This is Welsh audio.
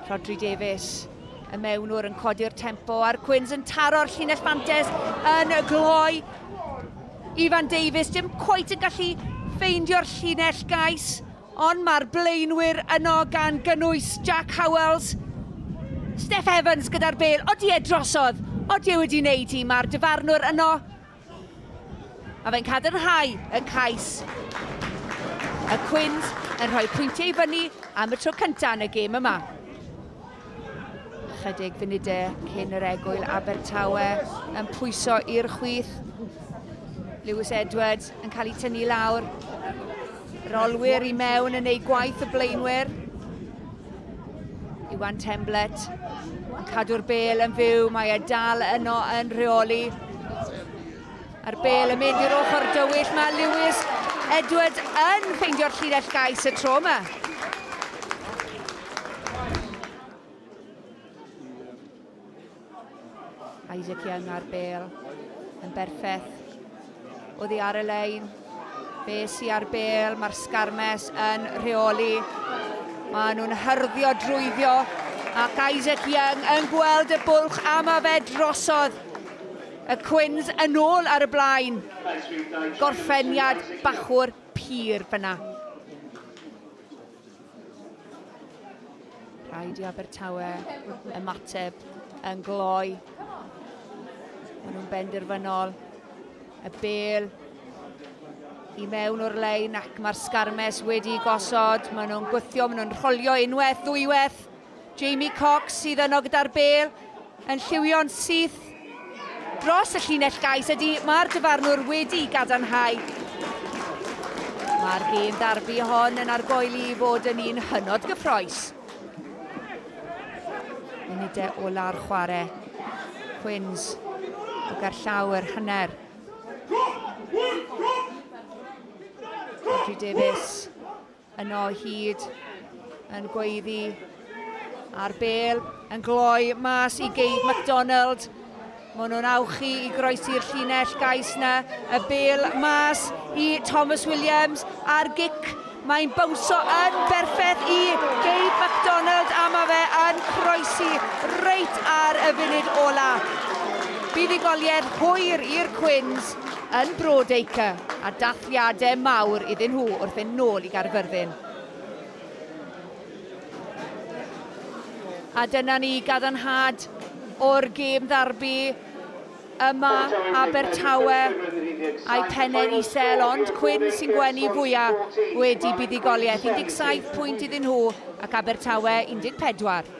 Rhodri Davies, y mewnwr yn codi'r tempo a'r Cwins yn taro'r llinell fantes yn y gloi. Ifan Davies dim cweit yn gallu ffeindio'r llinell gais, ond mae'r blaenwyr yno gan gynnwys Jack Howells, Steph Evans gyda'r bel, odi e drosodd, odi e wedi wneud hi, mae'r dyfarnwr yno A fe'n cadarnhau y cais. Y Cwins yn rhoi pwyntiau i fyny am y tro cyntaf yn y gêm yma. Chydig funudau cyn yr egwyl Abertawe yn pwyso i'r chwith. Lewis Edwards yn cael ei tynnu lawr. Rolwyr i mewn yn ei gwaith y blaenwyr. Iwan Temblet yn cadw'r bel yn fyw, mae e dal yno yn rheoli. A'r bel yn mynd i'r ochr dywyll, mae Lewis Edward yn ffeindio'r llinell gais y tro yma. Isaac Young ar bel yn berffeth. Oddi ar y lein. Be sy ar bel, mae'r Scarmes yn rheoli. Mae nhw'n hyrddio drwyddio ac Isaac Young yn gweld y bwlch a mae fe drosodd. Y Cwins yn ôl ar y blaen. Gorffeniad bachwr pur fyna. Rhaid i Abertawe ymateb yn gloi. Maen nhw'n benderfynol. Y bel i mewn o'r lein ac mae'r sgarmes wedi gosod. Maen nhw'n gwythio, maen nhw'n rholio unwaith, ddwywaith. Jamie Cox sydd yno gyda'r bel yn lliwio'n syth dros y llinell gais. Ydy, mae'r dyfarnwr wedi gadarnhau. Mae'r gêm darbi hon yn argoeli i fod yn un hynod gyffroes. Munudau ola'r chwarae. Quins o gerllaw yr hanner. Rodri Davies Yno o hyd yn gweiddi a'r bel yn gloi mas i Geid McDonald. Mae nhw'n awchu i groesi'r llinell gais na y bel mas i Thomas Williams a'r gic. Mae'n bawnsio yn berffaith i Geid McDonald a mae fe yn croesi reit ar y funud ola. Buddugoliaeth hwyr i'r Cwins yn Broadacre a dath Diade mawr iddyn nhw wrth fynd nôl i Gaerfyrddin. A dyna ni, gadarnhad o'r gêm ddarbi yma, Abertawe a'i phene'n isel, ond Cwyn sy'n gwenu fwya' wedi buddugoliaeth, 17 pwynt iddyn nhw ac Abertawe 14.